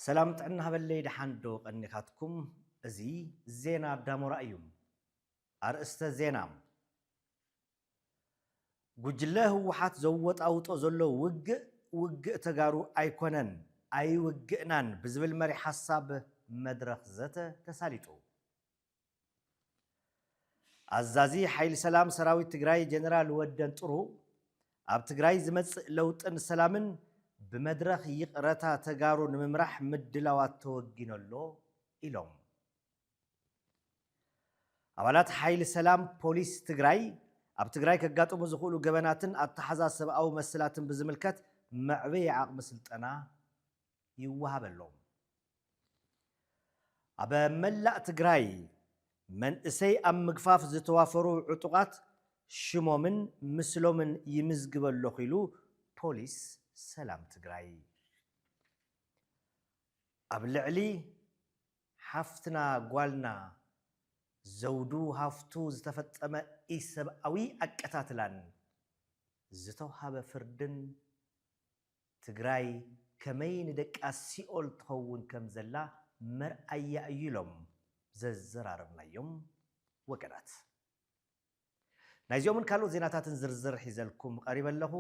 ሰላም ጥዕና ሃበለይ ደሓን ዶ ቀኒኻትኩም እዚ ዜና ዳሞራ እዩ ኣርእስተ ዜና ጉጅለ ህወሓት ዘወጣውጦ ዘሎ ውግእ ውግእ ተጋሩ ኣይኮነን ኣይውግእናን ብዝብል መሪሕ ሓሳብ መድረኽ ዘተ ተሳሊጡ ኣዛዚ ሓይሊ ሰላም ሰራዊት ትግራይ ጀነራል ወደን ጥሩ ኣብ ትግራይ ዝመፅእ ለውጥን ሰላምን ብመድረኽ ይቕረታ ተጋሩ ንምምራሕ ምድላዋት ተወጊኖ ኣሎ ኢሎም። ኣባላት ሓይሊ ሰላም ፖሊስ ትግራይ ኣብ ትግራይ ከጋጥሙ ዝኽእሉ ገበናትን ኣተሓዛ ሰብኣዊ መሰላትን ብዝምልከት መዕበዪ ዓቕሚ ስልጠና ይወሃበሎም። ኣብ መላእ ትግራይ መንእሰይ ኣብ ምግፋፍ ዝተዋፈሩ ዕጡቓት ሽሞምን ምስሎምን ይምዝግብ ኣለኹ ኢሉ ፖሊስ ሰላም ትግራይ። ኣብ ልዕሊ ሓፍትና ጓልና ዘውዱ ሃፍቱ ዝተፈፀመ ኢሰብኣዊ ኣቀታትላን ዝተውሃበ ፍርድን ትግራይ ከመይ ንደቃ ሲኦል ትኸውን ከም ዘላ መርኣያ እዩ ኢሎም ዘዘራረብናዮም ወገናት። ናይዚኦምን ካልኦት ዜናታትን ዝርዝር ሒዘልኩም ቐሪበ ኣለኹ።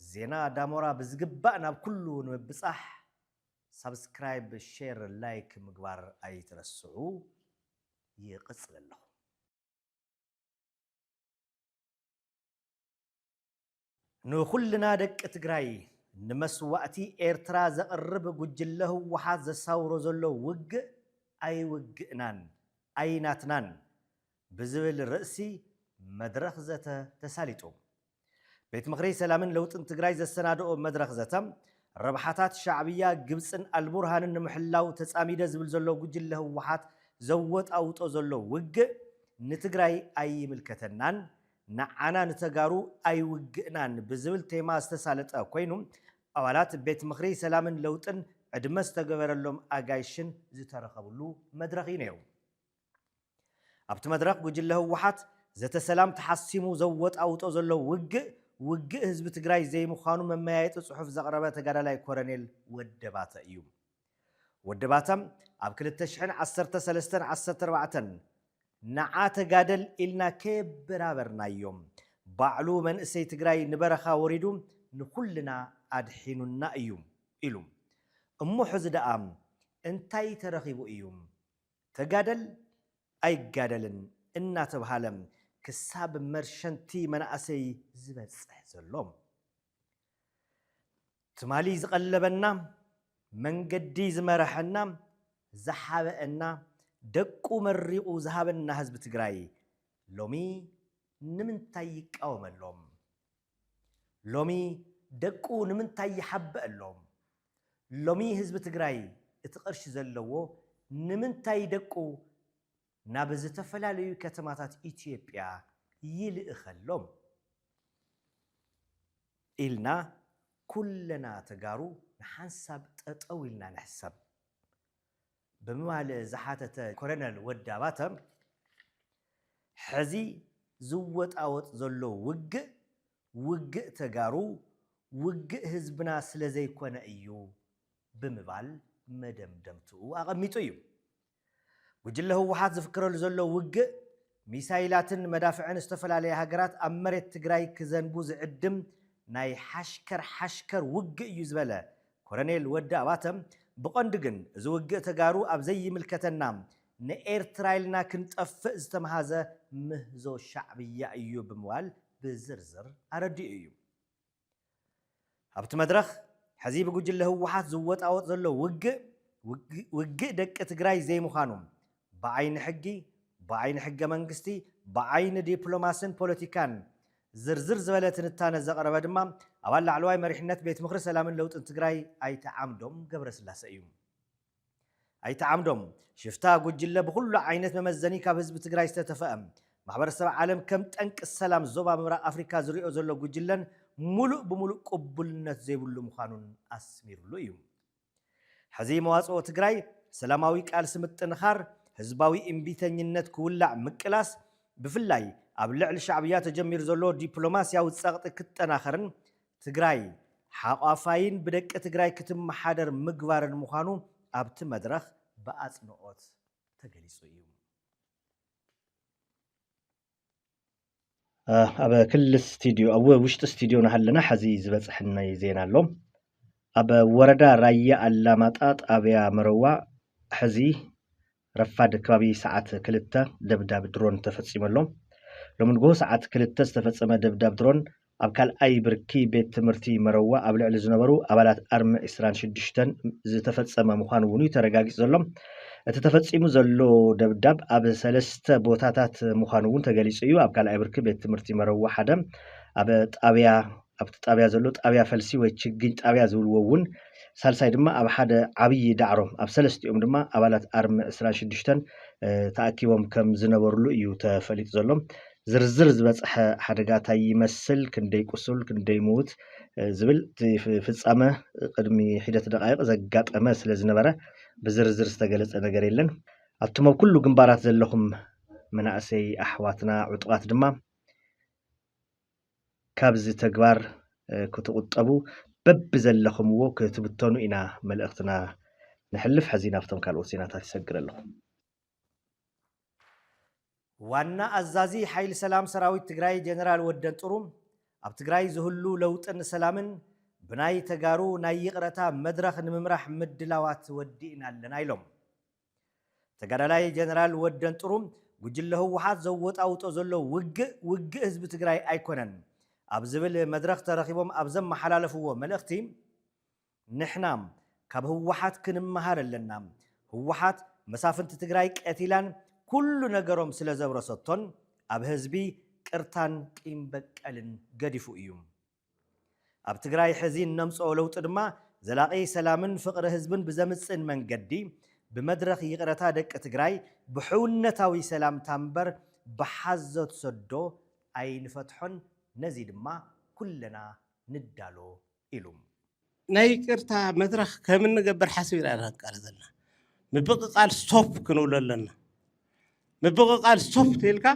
ዜና ዳሞራ ብዝግባእ ናብ ኩሉ ንምብጻሕ ሳብስክራይብ፣ ሼር፣ ላይክ ምግባር ኣይትረስዑ። ይቕጽል ኣለኹ። ንኹልና ደቂ ትግራይ ንመስዋእቲ ኤርትራ ዘቕርብ ጉጅለ ህወሓት ዘሳውሮ ዘሎ ውግእ ኣይውግእናን ኣይናትናን ብዝብል ርእሲ መድረኽ ዘተ ተሳሊጡ። ቤት ምኽሪ ሰላምን ለውጥን ትግራይ ዘሰናደኦ መድረኽ ዘተ፣ ረብሓታት ሻዕብያ፣ ግብፅን ኣልቡርሃንን ንምሕላው ተፃሚደ ዝብል ዘሎ ጉጅለ ህወሓት ዘወጣውጦ ዘሎ ውግእ ንትግራይ ኣይምልከተናን ንዓና ንተጋሩ ኣይውግእናን ብዝብል ቴማ ዝተሳለጠ ኮይኑ ኣባላት ቤት ምኽሪ ሰላምን ለውጥን ዕድመ ዝተገበረሎም ኣጋይሽን ዝተረኸብሉ መድረኽ እዩ ነይሩ። ኣብቲ መድረኽ ጉጅለ ህወሓት ዘተ ሰላም ተሓሲሙ ዘወጣውጦ ዘሎ ውግእ ውግእ ህዝቢ ትግራይ ዘይምዃኑ መመያየጢ ፅሑፍ ዘቕረበ ተጋዳላይ ኮረኔል ወደባተ እዩ። ውድባታ ኣብ ክልተ ሽሕን ዓሰርተ ሰለስተን ዓሰርተ ኣርባዕተን ንዓ ተጋደል ኢልና ከየበራበርናዮም ባዕሉ መንእሰይ ትግራይ ንበረኻ ወሪዱ ንኹልና ኣድሒኑና እዩ ኢሉ። እሞ ሕዚ ደኣ እንታይ ተረኺቡ እዩ ተጋደል ኣይጋደልን እናተብሃለ ክሳብ መርሸንቲ መናእሰይ ዝበፅሕ ዘሎ? ትማሊ ዝቐለበና፣ መንገዲ ዝመረሐና፣ ዝሓበእና፣ ደቁ መሪቑ ዝሃበና ህዝቢ ትግራይ ሎሚ ንምንታይ ይቃወመሎም? ሎሚ ደቁ ንምንታይ ይሓበእሎም? ሎሚ ህዝቢ ትግራይ እቲ ቅርሺ ዘለዎ ንምንታይ ደቁ ናብ ዝተፈላለዩ ከተማታት ኢትዮጵያ ይልእኸሎም ኢልና ኩለና ተጋሩ ንሓንሳብ ጠጠው ኢልና ንሕሰብ ብምባል ዝሓተተ ኮሎነል ወዳባተ፣ ሕዚ ዝወጣወጥ ዘሎ ውግእ፣ ውግእ ተጋሩ፣ ውግእ ህዝብና ስለዘይኮነ እዩ ብምባል መደምደምትኡ ኣቐሚጡ እዩ። ጉጅለ ህወሓት ዝፍክረሉ ዘሎ ውግእ ሚሳይላትን መዳፍዕን ዝተፈላለያ ሃገራት ኣብ መሬት ትግራይ ክዘንቡ ዝዕድም ናይ ሓሽከር ሓሽከር ውግእ እዩ ዝበለ ኮረኔል ወዲ ኣባተ ብቐንዱ ግን እዚ ውግእ ተጋሩ ኣብ ዘይምልከተና ንኤርትራ ኢልና ክንጠፍእ ዝተምሃዘ ምህዞ ሻዕብያ እዩ ብምባል ብዝርዝር ኣረዲኡ እዩ። ኣብቲ መድረኽ ሕዚ ብጉጅለ ህወሓት ዝወጣወጥ ዘሎ ውግእ ውግእ ደቂ ትግራይ ዘይምዃኑ ብዓይኒ ሕጊ፣ ብዓይኒ ሕገ መንግስቲ፣ ብዓይኒ ዲፕሎማስን ፖለቲካን ዝርዝር ዝበለ ትንታነ ዘቕረበ ድማ ኣባል ላዕለዋይ መሪሕነት ቤት ምኽሪ ሰላምን ለውጥን ትግራይ ኣይተ ዓምዶም ገብረስላሰ እዩ። ኣይተ ዓምዶም፣ ሽፍታ ጉጅለ ብኹሉ ዓይነት መመዘኒ ካብ ህዝቢ ትግራይ ዝተተፈኣ፣ ማሕበረሰብ ዓለም ከም ጠንቂ ሰላም ዞባ ምብራቕ ኣፍሪካ ዝሪኦ ዘሎ ጉጅለን ሙሉእ ብሙሉእ ቅቡልነት ዘይብሉ ምዃኑን ኣስሚርሉ እዩ። ሕዚ መዋፅኦ ትግራይ ሰላማዊ ቃልሲ ምጥንኻር፣ ህዝባዊ እምቢተኝነት ክውላዕ ምቅላስ፣ ብፍላይ ኣብ ልዕሊ ሻዕብያ ተጀሚሩ ዘሎ ዲፕሎማሲያዊ ፀቕጢ ክጠናኸርን ትግራይ ሓቋፋይን ብደቂ ትግራይ ክትመሓደር ምግባርን ምዃኑ ኣብቲ መድረኽ ብኣፅንኦት ተገሊፁ እዩ። ኣብ ክልል ስቱድዮ ኣብ ውሽጢ ስቱድዮ ናሃለና ሐዚ ዝበፅሐናይ ዜና ኣሎ ኣብ ወረዳ ራያ ኣላማጣ ጣብያ መረዋ ሐዚ ረፋድ ከባቢ ሰዓት ክልተ ደብዳብ ድሮን ተፈፂሙ ኣሎ። ሎሚ ንጉሆ ሰዓት ክልተ ዝተፈፀመ ደብዳብ ድሮን ኣብ ካልኣይ ብርኪ ቤት ትምህርቲ መረዋ ኣብ ልዕሊ ዝነበሩ ኣባላት ኣርሚ ዕስራን ሽዱሽተን ዝተፈፀመ ምዃኑ እውን እዩ ተረጋጊፁ ዘሎ። እቲ ተፈፂሙ ዘሎ ደብዳብ ኣብ ሰለስተ ቦታታት ምዃኑ እውን ተገሊፁ እዩ። ኣብ ካልኣይ ብርኪ ቤት ትምህርቲ መረዋ ሓደ ኣብ ጣብያ ኣብቲ ጣብያ ዘሎ ጣብያ ፈልሲ ወይ ችግኝ ጣብያ ዝብልዎ እውን ሳልሳይ ድማ ኣብ ሓደ ዓብዪ ዳዕሮ ኣብ ሰለስቲኦም ድማ ኣባላት ኣርሚ ዕስራን ሽዱሽተን ተኣኪቦም ከም ዝነበርሉ እዩ ተፈሊጡ ዘሎ። ዝርዝር ዝበፀሐ ሓደጋ ታይ ይመስል፣ ክንደይ ቁሱል ክንደይ ምዉት ዝብል እቲ ፍፃመ ቅድሚ ሒደት ደቓይቕ ዘጋጠመ ስለ ዝነበረ ብዝርዝር ዝተገለፀ ነገር የለን። ኣቱም ኣብ ኩሉ ግንባራት ዘለኹም መናእሰይ ኣሕዋትና ዕጡቓት ድማ፣ ካብዚ ተግባር ክትቑጠቡ በብዘለኹምዎ ክትብተኑ ኢና መልእኽትና ነሕልፍ። ሕዚ ናብቶም ካልኦት ዜናታት ይሰግር ኣለኹ። ዋና ኣዛዚ ሓይሊ ሰላም ሰራዊት ትግራይ ጀነራል ወደንጥሩ ኣብ ትግራይ ዝህሉ ለውጥን ሰላምን ብናይ ተጋሩ ናይ ይቕረታ መድረኽ ንምምራሕ ምድላዋት ወዲእና ኣለና ኢሎም። ተጋዳላይ ጀነራል ወደንጥሩ ጉጅለ ህወሓት ዘወጣውጦ ዘሎ ውግእ ውግእ ህዝቢ ትግራይ ኣይኮነን ኣብ ዝብል መድረኽ ተረኺቦም ኣብ ዘመሓላለፍዎ መልእኽቲ ንሕና ካብ ህወሓት ክንመሃር ኣለና ህወሓት መሳፍንቲ ትግራይ ቀቲላን ኩሉ ነገሮም ስለዘብረሰቶን ኣብ ህዝቢ ቅርታን ቂም በቀልን ገዲፉ እዩ። ኣብ ትግራይ ሕዚ እነምፅኦ ለውጢ ድማ ዘላቒ ሰላምን ፍቕሪ ህዝብን ብዘምፅእን መንገዲ ብመድረኽ ይቕረታ ደቂ ትግራይ ብሕውነታዊ ሰላምታ እምበር ብሓዞት ሰዶ ኣይንፈትሖን ነዚ ድማ ኩለና ንዳሎ ኢሉ። ናይ ይቅርታ መድረኽ ከም እንገብር ሓሲብና ኢና ክንቃለ ዘለና ምብቕቓል ስቶፕ ክንብሎ ኣለና ምብቕቓል ስቶፕ ተልካ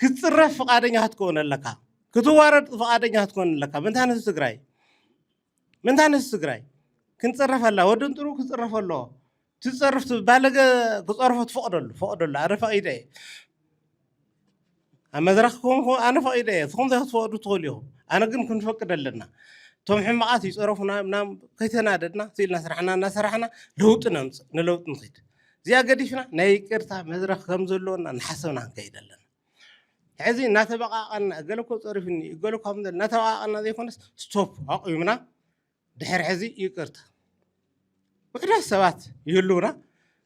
ክትፅረፍ ፍቓደኛ ክትከውን ኣለካ ክትዋረድ ፍቓደኛ ክትከውን ኣለካ ምንታ ንህዝቢ ትግራይ ምንታ ንህዝቢ ትግራይ ክንፅረፍ ኣላ ወዲ እንጥሩ ክፅረፍ ኣለዎ ትጸርፍ ትብል ባለገ ክጸርፎ ትፈቕደሉ ፈቕደሉ ኣነ ፈቒደ እየ ኣብ መድረኽ ክኹንኩ ኣነ ፈቒደ እየ ትኹም ዘይክትፈቕዱ ትኽእሉ ኢኹም ኣነ ግን ክንፈቅድ ኣለና እቶም ሕማቓት ይጸረፉና ምና ከይተናደድና ስኢልና ስራሕና እናሰራሕና ለውጢ ነምፅእ ንለውጢ ንኽድ እዚኣ ገዲፍና ናይ ይቅርታ መድረኽ ከም ዘለዎና ንሓሰብና ክንከይድ ኣለና ሕዚ እናተበቃቀና እገለ እኮ ፀሪፉኒ እገለ እኳ እናተበቃቀና ዘይኮነስ ስቶፕ ኣቑምና ድሕሪ ሕዚ ይቅርታ ውሕዳት ሰባት ይህልውና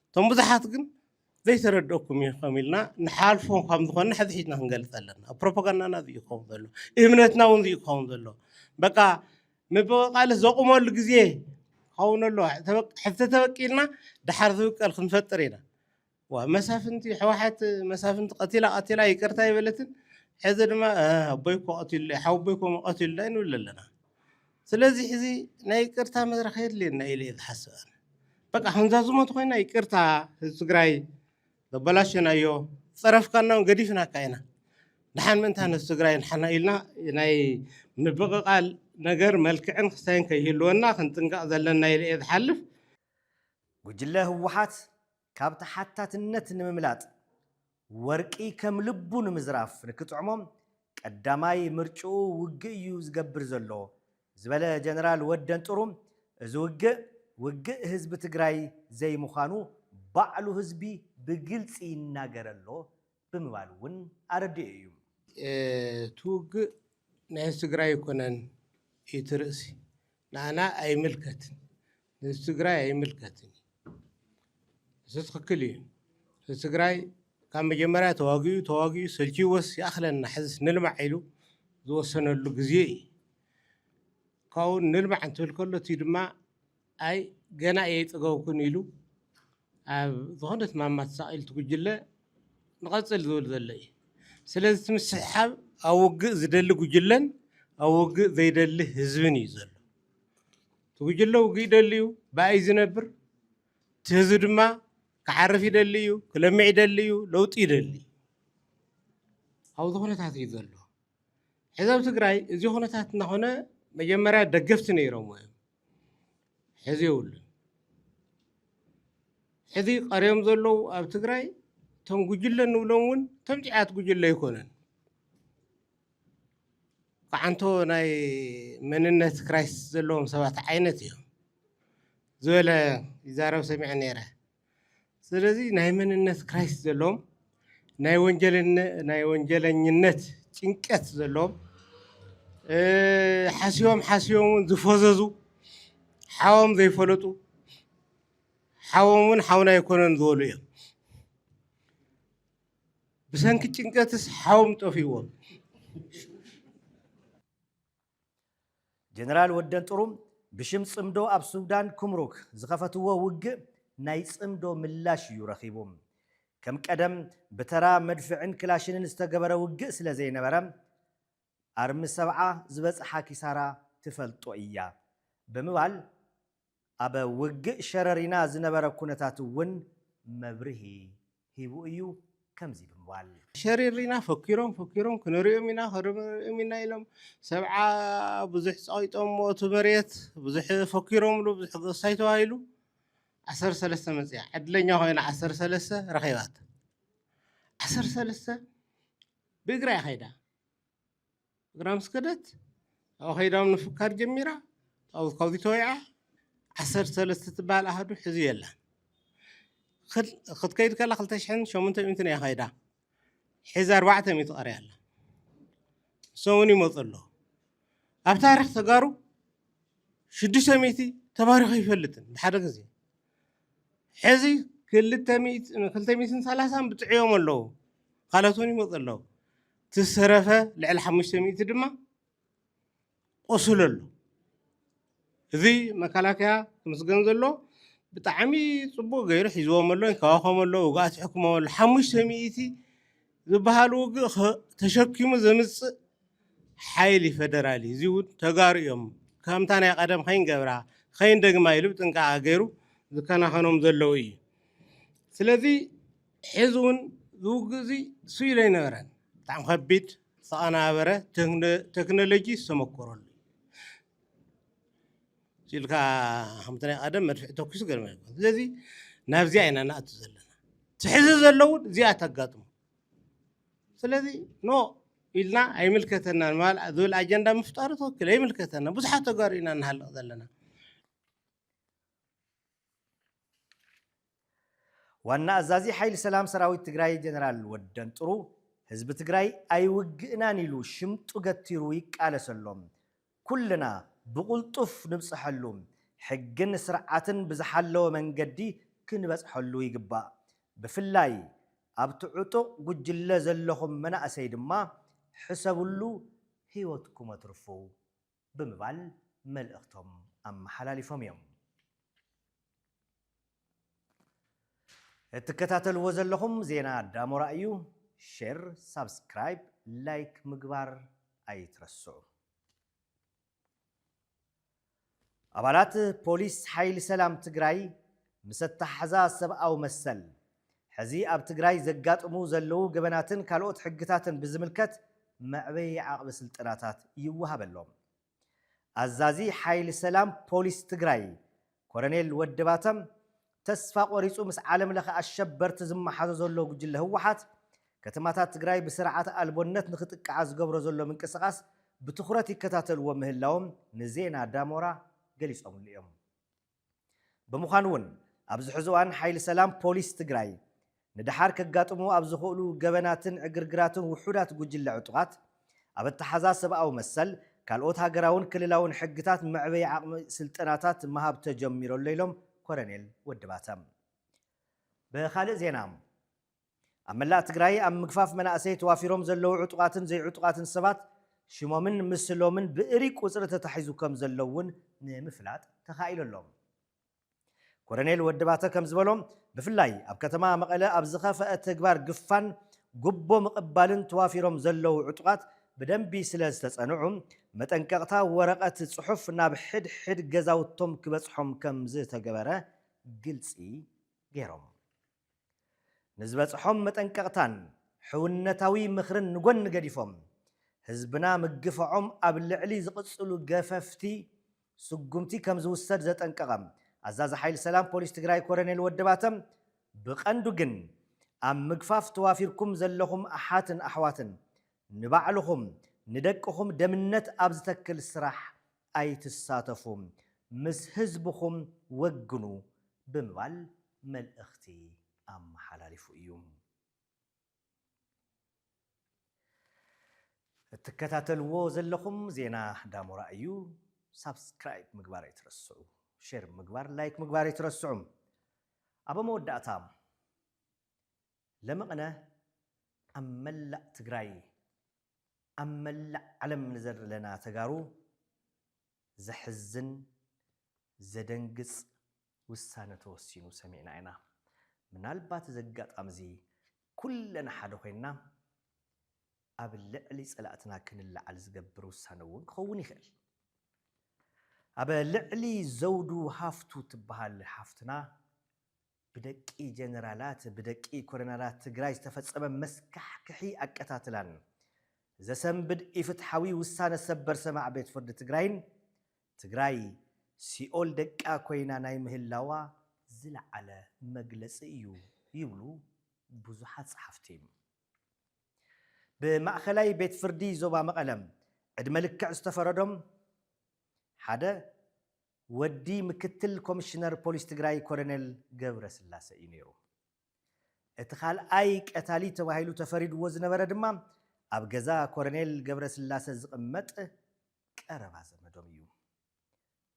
እቶም ብዙሓት ግን ዘይተረድኦኩም እዩ ከም ኢልና ንሓልፎ ካብ ዝኾነ ሕዚ ሒዝና ክንገልፅ ኣለና ፕሮፓጋንዳና እዚ ይኸውን ዘሎ እምነትና እውን እዚ ይኸውን ዘሎ በቃ ምብቕቓል ዘቑመሉ ግዜ ክኸውን ኣሎ ሕዚ ተበቂልና ድሓር ዝብቀል ክንፈጥር ኢና ዋእ መሳፍንቲ ሕዋሓት መሳፍንቲ ቀቲላ ቀቲላ ይቅርታ ኣይበለትን ሕዚ ድማ ኣቦይ እኮ ቀቲሉለይ ሓወቦይ እኮ ቀቲሉለይ ንብል ኣለና ስለዚ ሕዚ ናይ ይቅርታ መድረክ የድልየና ኢለ እየ ዝሓስብ ኣነ በቃ ከምዛ ዝሞት ኮይና ይቅርታ ህዝቢ ትግራይ ዘበላሸናዮ ፀረፍካና እውን ገዲፍናካ ኢና ድሓን ምእንታን ህዝቢ ትግራይ ንሓና ኢልና ናይ ምብቕቓል ነገር መልክዕን ክስታይን ከይህልወና ክንጥንቀቕ ዘለና ኢለ እየ ዝሓልፍ ጉጅለ ህወሓት ካብ ተሓታትነት ንምምላጥ፣ ወርቂ ከም ልቡ ንምዝራፍ ንክጥዕሞ ቀዳማይ ምርጭኡ ውግእ እዩ ዝገብር ዘሎ ዝበለ ጀነራል ወደንጥሩ፣ እዚ ውግእ ውግእ ህዝቢ ትግራይ ዘይምዃኑ ባዕሉ ህዝቢ ብግልፂ ይናገር ኣሎ ብምባል እውን ኣረዲኡ እዩ። እቲ ውግእ ናይ ህዝቢ ትግራይ ኣይኮነን እዩ እቲ ርእሲ። ንኣና ኣይምልከትን፣ ንህዝቢ ትግራይ ኣይምልከትን እዩ። ንሱ ትኽክል እዩ። ህዝቢ ትግራይ ካብ መጀመርያ ተዋጊኡ ተዋጊኡ ሰልችይዎስ ይኣኽለና ሕዝስ ንልማዕ ኢሉ ዝወሰነሉ ግዜ እዩ። ካብኡ ንልማዕ እንትብል ከሎ እቲ ድማ ኣይ ገና እየይጸገብኩን ኢሉ ኣብ ዝኾነት ማማ ተሳቒሉ እቲ ጉጅለ ንቐጽል ዝብል ዘሎ እዩ። ስለዚ እቲ ምስሕሓብ ኣብ ውግእ ዝደሊ ጉጅለን ኣብ ውግእ ዘይደሊ ህዝብን እዩ ዘሎ። እቲ ጉጅለ ውግእ ይደሊ እዩ፣ ብኣይ እዩ ዝነብር። እቲ ህዝቢ ድማ ክዓርፍ ይደሊ እዩ፣ ክለምዕ ይደሊ እዩ፣ ለውጢ ይደሊ እዩ። ኣብዚ ኩነታት እዩ ዘሎ። ሕዚ ኣብ ትግራይ እዚ ኩነታት እናኾነ መጀመርያ ደገፍቲ ነይሮምዎ እዮም። ሕዚ የብሉን። ሕዚ ቀርዮም ዘለዉ ኣብ ትግራይ እቶም ጉጅለ ንብሎም እውን እቶም ጭያት ጉጅለ ኣይኮነን። ክዓንቶ ናይ መንነት ክራይስ ዘለዎም ሰባት ዓይነት እዮም ዝበለ ይዛረብ ሰሚዐ ነይረ። ስለዚ ናይ መንነት ክራይሲስ ዘለዎም፣ ናይ ወንጀለኝነት ጭንቀት ዘለዎም፣ ሓሲቦም ሓሲቦም እውን ዝፈዘዙ፣ ሓዎም ዘይፈለጡ፣ ሓዎም እውን ሓውና ኣይኮነን ዝበሉ እዮም። ብሰንኪ ጭንቀትስ ሓዎም ጠፊእዎም። ጀነራል ወደን ጥሩም ብሽም ጽምዶ ኣብ ሱዳን ኩምሩክ ዝኸፈትዎ ውግእ ናይ ጽምዶ ምላሽ እዩ ረኺቡ። ከም ቀደም ብተራ መድፍዕን ክላሽንን ዝተገበረ ውግእ ስለ ዘይነበረ ኣርሚ ሰብዓ ዝበጽሓ ኪሳራ ትፈልጦ እያ ብምባል ኣብ ውግእ ሸረሪና ዝነበረ ኩነታት እውን መብርሂ ሂቡ እዩ ከምዚ ብምባል። ሸሪሪና ፈኪሮም ፈኪሮም ክንሪኦም ኢና ክንሪኦም ኢና ኢሎም ሰብዓ ብዙሕ ጸቒጦሞ እቲ መሬት ብዙሕ ፈኪሮምሉ ብዙሕ ገሳይ ተባሂሉ ዓሰርተ ሰለስተ መጺኣ ዕድለኛ ኮይና ዓሰርተ ሰለስተ ረኺባታ ዓሰርተ ሰለስተ ብእግራ እያ ከይዳ እግራ ምስ ከደት ኣብኡ ከይዳ ውን ምፍካር ጀሚራ ኣብኡ ከቢት ወይዓ ዓሰርተ ሰለስተ ትበሃል ኣሃዱ ሕዚ የላን ክል- ክትከይድ ከላ ክልተ ሽሕን ሸሞንተ ሚእትን እያ ከይዳ ሕዚ ኣርባዕተ ሚእቲ ቀርያ ኣላ ንሶም እውን ይመፁ ኣለዉ ኣብ ታሪክ ተጋሩ ሽዱሽተ ሚእቲ ተባሪኹ ኣይፈልጥን ብሓደ ግዜ ሕዚ ክልተ ሚእትን ክልተ ሚእትን ሰላሳን ብፅዕዮም ኣለዉ ካልኦት እውን ይመፁ ኣለዉ እቲ ዝተረፈ ልዕሊ ሓሙሽተ ሚእቲ ድማ ቆሱሉ ኣሎ እዚ መከላከያ ክምስገን ዘሎ ብጣዕሚ ፅቡቅ ገይሩ ሒዝዎም ኣሎ ይንከባኸቦም ኣሎ ውግኣት ይሕክሞም ኣሎ ሓሙሽተ ሚእቲ ዝበሃል ውግእ ተሸኪሙ ዘምጽእ ሓይሊ ፈደራል እዩ። እዚ እውን ተጋሩ እዮም ከምታ ናይ ቀደም ከይንገብራ ከይንደግማ ኢሉ ብጥንቃቐ ገይሩ ዝከናኸኖም ዘለዉ እዩ። ስለዚ ሕዚ እውን ዝውግእ እዚ ስኢሉ ኣይነበረን። ብጣዕሚ ከቢድ ዝተቐናበረ ቴክኖሎጂ ዝተመኮረሉ እዩ። ኢልካ ከምቲ ናይ ቀደም መድፍዕ ተኪሱ ገርመ ስለዚ ናብዚኣ ኢና ንኣቱ ዘለና እቲ ሕዚ ዘሎ እውን እዚኣ ተጋጥሙ ስለዚ ኖ ኢልና ኣይምልከተናን ዝብል ኣጀንዳ ምፍጣሩ ትክክል ኣይምልከተና ብዙሓት ተጋሩ ኢና ንሃልቕ ዘለና ዋና ኣዛዚ ሓይሊ ሰላም ሰራዊት ትግራይ ጀነራል ወደንጥሩ፣ ህዝቢ ትግራይ ኣይውግእናን ኢሉ ሽምጡ ገቲሩ ይቃለሰ ኣሎ። ኩልና ብቕልጡፍ ንብፀሐሉ፣ ሕግን ስርዓትን ብዝሓለወ መንገዲ ክንበፅሐሉ ይግባእ። ብፍላይ ኣብቲ ዕጡቕ ጉጅለ ዘለኹም መናእሰይ ድማ ሕሰብሉ ህይወትኩም ኣትርፉ ብምባል መልእኽቶም ኣመሓላሊፎም እዮም። እትከታተልዎ ዘለኹም ዜና ዳሞራ እዩ። ሼር፣ ሳብስክራይብ፣ ላይክ ምግባር ኣይትረስዑ። ኣባላት ፖሊስ ሓይሊ ሰላም ትግራይ ምስ ኣተሓሕዛ ሰብኣዊ መሰል ሕዚ ኣብ ትግራይ ዘጋጥሙ ዘለዉ ገበናትን ካልኦት ሕግታትን ብዝምልከት መዕበዪ ዓቕቢ ስልጠናታት ይወሃበሎም። ኣዛዚ ሓይሊ ሰላም ፖሊስ ትግራይ ኮረኔል ወደባተ፣ ተስፋ ቆሪፁ ምስ ዓለም ለኸ ኣሸበርቲ ዝመሓዞ ዘሎ ጉጅለ ህወሓት ከተማታት ትግራይ ብስርዓት ኣልቦነት ንክጥቅዓ ዝገብሮ ዘሎ ምንቅስቓስ ብትኹረት ይከታተልዎ ምህላዎም ንዜና ዳሞራ ገሊፆምሉ እዮም። ብምዃኑ እውን ኣብዚ ሕዚ እዋን ሓይሊ ሰላም ፖሊስ ትግራይ ንደሓር ከጋጥሙ ኣብ ዝኽእሉ ገበናትን ዕግርግራትን ውሑዳት ጉጅለ ዕጡቓት ኣብ ኣተሓዛ ሰብኣዊ መሰል ካልኦት ሃገራውን ክልላውን ሕግታት መዕበዪ ዓቕሚ ስልጠናታት ምሃብ ተጀሚሩ ኣሎ ኢሎም ኮረኔል ወዲ ባተ። ብኻልእ ዜና ኣብ መላእ ትግራይ ኣብ ምግፋፍ መናእሰይ ተዋፊሮም ዘለዉ ዕጡቓትን ዘይዕጡቓትን ሰባት ሽሞምን ምስሎምን ብእርይ ቁፅሪ ተታሒዙ ከም ዘሎ እውን ንምፍላጥ ተኻኢሉ ኣሎ። ኮረኔል ወዲ ባተ ከም ዝበሎ ብፍላይ ኣብ ከተማ መቐለ ኣብ ዝኸፈኣ ተግባር ግፋን ጉቦ ምቕባልን ተዋፊሮም ዘለዉ ዕጡቓት ብደንቢ ስለ ዝተፀንዑ መጠንቀቕታ ወረቐት ፅሑፍ ናብ ሕድ ሕድ ገዛውቶም ክበፅሖም ከም ዝተገበረ ግልፂ ገይሮም። ንዝበፅሖም መጠንቀቕታን ሕውነታዊ ምኽርን ንጎኒ ገዲፎም ህዝብና ምግፋዖም ኣብ ልዕሊ ዝቕፅሉ ገፈፍቲ ስጉምቲ ከምዝውሰድ ዘጠንቀቐ ኣዛዚ ሓይሊ ሰላም ፖሊስ ትግራይ ኮረኔል ወዲ ባተ ብቐንዱ ግን ኣብ ምግፋፍ ተዋፊርኩም ዘለኹም ኣሓትን ኣሕዋትን ንባዕልኹም ንደቅኹም ደምነት ኣብ ዝተክል ስራሕ ኣይትሳተፉ፣ ምስ ህዝብኹም ወግኑ ብምባል መልእኽቲ ኣመሓላሊፉ እዩ። እትከታተልዎ ዘለኹም ዜና ዳሞራ እዩ። ሳብስክራይብ ምግባር ኣይትረስዑ፣ ሼር ምግባር፣ ላይክ ምግባር ኣይትረስዑ። ኣብ መወዳእታ ለመቕነ ኣብ መላእ ትግራይ ኣብ መላእ ዓለም ንዘለና ተጋሩ ዘሕዝን ዘደንግጽ ውሳነ ተወሲኑ ሰሚዕና ኢና። ምናልባት እዚ ኣጋጣሚ እዚ ኩለና ሓደ ኮይንና ኣብ ልዕሊ ጸላእትና ክንለዓል ዝገብር ውሳነ እውን ክኸውን ይኽእል። ኣብ ልዕሊ ዘውዱ ሃፍቱ ትበሃል ሓፍትና ብደቂ ጀነራላት ብደቂ ኮረናላት ትግራይ ዝተፈፀመ መስካሕክሒ ኣቀታትላን ዘሰንብድ ኢፍትሓዊ ውሳነ ሰበር ሰማዕ ቤት ፍርዲ ትግራይን ትግራይ ሲኦል ደቃ ኮይና ናይ ምህላዋ ዝለዓለ መግለፂ እዩ ይብሉ ብዙሓት ፀሓፍቲ። ብማእኸላይ ቤት ፍርዲ ዞባ መቐለ ዕድመ ልክዕ ዝተፈረዶም ሓደ ወዲ ምክትል ኮሚሽነር ፖሊስ ትግራይ ኮሎኔል ገብረስላሰ እዩ ነይሩ። እቲ ካልኣይ ቀታሊ ተባሂሉ ተፈሪድዎ ዝነበረ ድማ ኣብ ገዛ ኮሎኔል ገብረስላሰ ዝቕመጥ ቀረባ ዘመዶም እዩ።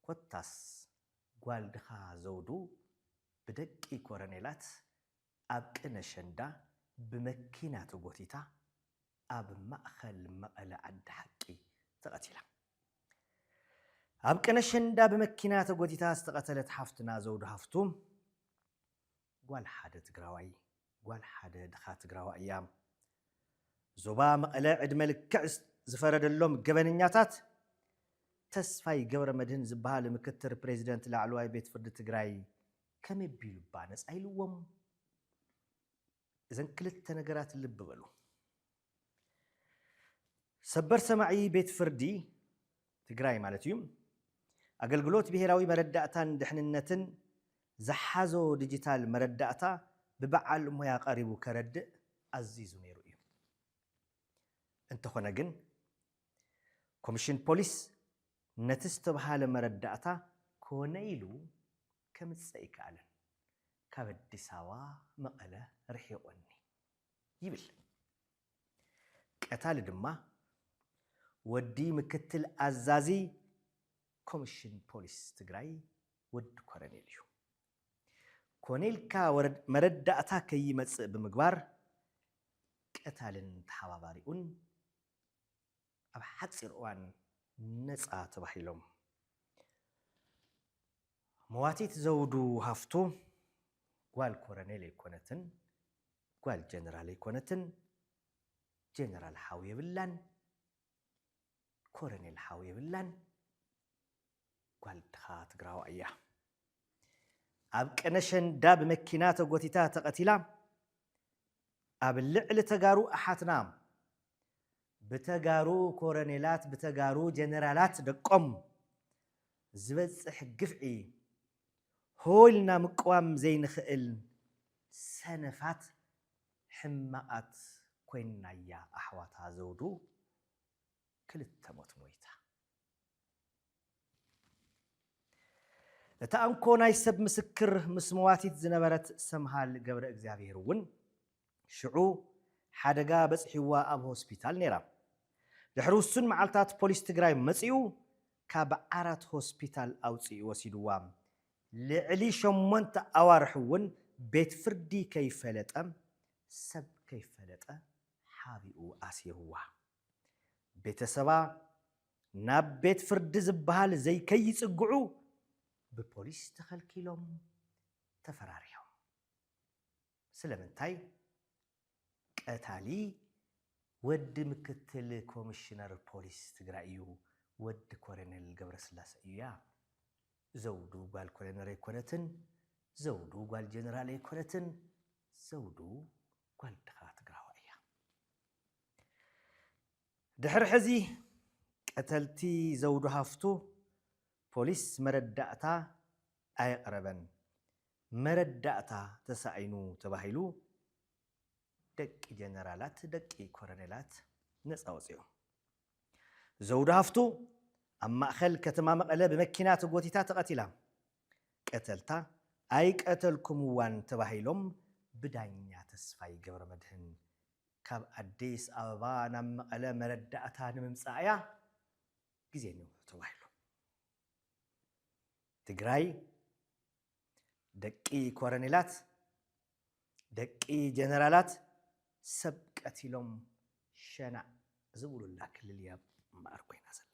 ኮታስ ጓል ድኻ ዘውዱ ብደቂ ኮሎኔላት ኣብ ቅነ ኣሸንዳ ብመኪና ተጎቲታ ኣብ ማእኸል መቐለ ዓዲ ሓቂ ተቐቲላ። ኣብ ቅነ ኣሸንዳ ብመኪና ተጎቲታ ዝተቐተለት ሓፍትና ዘውዱ ሃፍቱ ጓል ሓደ ትግራዋይ ጓል ሓደ ድኻ ትግራዋይ እያ። ዞባ መቐለ ዕድመ ልክዕ ዝፈረደሎም ገበነኛታት ተስፋይ ገብረመድህን ዝበሃል ምክትል ፕሬዚደንት ላዕለዋይ ቤት ፍርዲ ትግራይ ከመይ ኣቢሉ እባ ነፃ ኢልዎም? እዘን ክልተ ነገራት ልቢ በሉ። ሰበር ሰማዒ ቤት ፍርዲ፣ ትግራይ ማለት እዩ፣ ኣገልግሎት ብሄራዊ መረዳእታን ድሕንነትን ዝሓዞ ዲጂታል መረዳእታ ብበዓል ሞያ ቀሪቡ ከረድእ ኣዚዙ ነይሩ እዩ። እንተኾነ ግን ኮሚሽን ፖሊስ ነቲ ዝተብሃለ መረዳእታ ኮነ ኢሉ ከምጽእ ኣይከኣለን። ካብ ኣዲስ ኣበባ መቐለ ርሒቑኒ ይብል። ቀታሊ ድማ ወዲ ምክትል ኣዛዚ ኮሚሽን ፖሊስ ትግራይ ወዲ ኮረኔል እዩ። ኮነ ኢልካ መረዳእታ ከይመጽእ ብምግባር ቀታልን ተሓባባሪኡን፣ ኣብ ሓጺር እዋን ነጻ ተባሂሎም። መዋቲት ዘውዱ ሃፍቱ ጓል ኮረኔል ኣይኮነትን፣ ጓል ጀነራል ኣይኮነትን፣ ጀነራል ሓው የብላን፣ ኮረኔል ሓው የብላን፣ ጓል ድኻ ትግራዋይ እያ። ኣብ ቀነሸንዳ ብመኪና ተጎቲታ ተቐቲላ፣ ኣብ ልዕሊ ተጋሩ ኣሓትና ብተጋሩ ኮረኔላት ብተጋሩ ጀነራላት ደቆም ዝበፅሕ ግፍዒ ሆ ኢልና ምቅዋም ዘይንኽእል ሰነፋት ሕማቓት ኮይንናያ ኣሕዋታ ዘውዱ ክልተ ሞት ሞይታ። እቲ ኣንኮ ናይ ሰብ ምስክር ምስ መዋቲት ዝነበረት ሰምሃል ገብረእግዚኣብሄር እውን ሽዑ ሓደጋ በጺሕዋ ኣብ ሆስፒታል ነይራ። ድሕሪ ውሱን መዓልታት ፖሊስ ትግራይ መጺኡ ካብ ዓራት ሆስፒታል ኣውጺኡ ወሲድዋ። ልዕሊ ሸሞንተ ኣዋርሕ እውን ቤት ፍርዲ ከይፈለጠ ሰብ ከይፈለጠ ሓቢኡ ኣሲርዋ። ቤተሰባ ናብ ቤት ፍርዲ ዝበሃል ዘይከይፅግዑ ብፖሊስ ተኸልኪሎም ተፈራሪሖም። ስለምንታይ? ቀታሊ ወዲ ምክትል ኮሚሽነር ፖሊስ ትግራይ እዩ፣ ወዲ ኮሎኔል ገብረስላሰ እዩያ። ዘውዱ ጓል ኮሎኔል ኣይኮነትን፣ ዘውዱ ጓል ጀነራል ኣይኮነትን፣ ዘውዱ ጓል ድኻ ትግራዋይ እያ። ድሕሪ ሕዚ ቀተልቲ ዘውዱ ሃፍቱ ፖሊስ መረዳእታ ኣየቕረበን፣ መረዳእታ ተሳኢኑ ተባሂሉ ደቂ ጀነራላት ደቂ ኮረኔላት ነፃ ወፂኦም። ዘውዱ ሃፍቱ ኣብ ማእኸል ከተማ መቐለ ብመኪና ተጎቲታ ተቐቲላ። ቀተልታ ኣይቀተልኩምዋን ተባሂሎም ብዳኛ ተስፋይ ገብረመድህን ካብ ኣዲስ ኣበባ ናብ መቐለ መረዳእታ ንምምፃእ እያ ግዜ ንውሑ ተባሂሉ። ትግራይ ደቂ ኮረኔላት፣ ደቂ ጀነራላት ሰብ ቀቲሎም ሸናዕ ዝብሉላ ክልል እያ እምበኣር ኮይና ዘላ።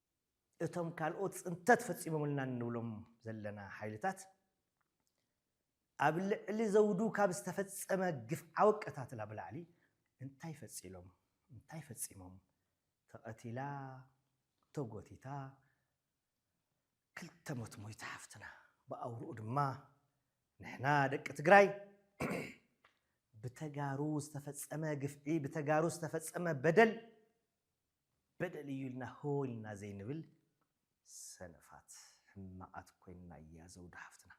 እቶም ካልኦት ፅንተት ፈፂሞምልና እንብሎም ዘለና ሓይልታት ኣብ ልዕሊ ዘውዱ ካብ ዝተፈፀመ ግፍዓዊ ኣቀታትላ ብላዕሊ እንታይ ፈፂሎም እንታይ ፈፂሞም ተቐቲላ ተጎቲታ ክልተ ሞት ሞይታ ሓፍትና ብኣውርኡ ድማ ንሕና ደቂ ትግራይ ብተጋሩ ዝተፈፀመ ግፍዒ ብተጋሩ ዝተፈፀመ በደል በደል እዩ ኢልና ህው ኢልና ዘይንብል ሰነፋት ሕማቃት ኮይንና እያ ዘውዲ ሓፍትና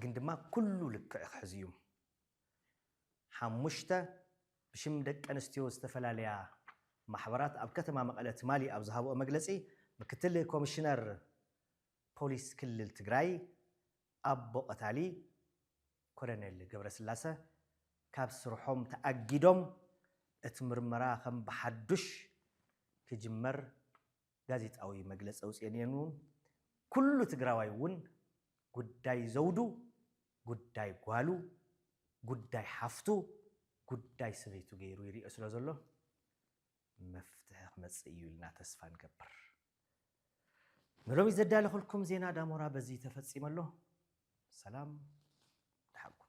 ግን ድማ ኩሉ ልክዕ ክሕዝ እዩም ሓሙሽተ ብሽም ደቂ ኣንስትዮ ዝተፈላለያ ማሕበራት ኣብ ከተማ መቐለ ትማሊ ኣብ ዝሃብኦ መግለፂ ምክትል ኮሚሽነር ፖሊስ ክልል ትግራይ ኣቦ ቀታሊ ኮሎኔል ገብረስላሰ ካብ ስርሖም ተኣጊዶም እቲ ምርመራ ከም ብሓዱሽ ክጅመር ጋዜጣዊ መግለፂ ኣውፂኤን እየን እውን። ኩሉ ትግራዋይ እውን ጉዳይ ዘውዱ፣ ጉዳይ ጓሉ፣ ጉዳይ ሓፍቱ፣ ጉዳይ ሰበይቱ ገይሩ ይሪኦ ስለዘሎ መፍትሒ ክመፅእ እዩ ኢልና ተስፋ ንገብር። ንሎሚ ዘዳለኹልኩም ዜና ዳሞራ በዚ ተፈጺሙ ኣሎ። ሰላም ደሓን ኩኑ።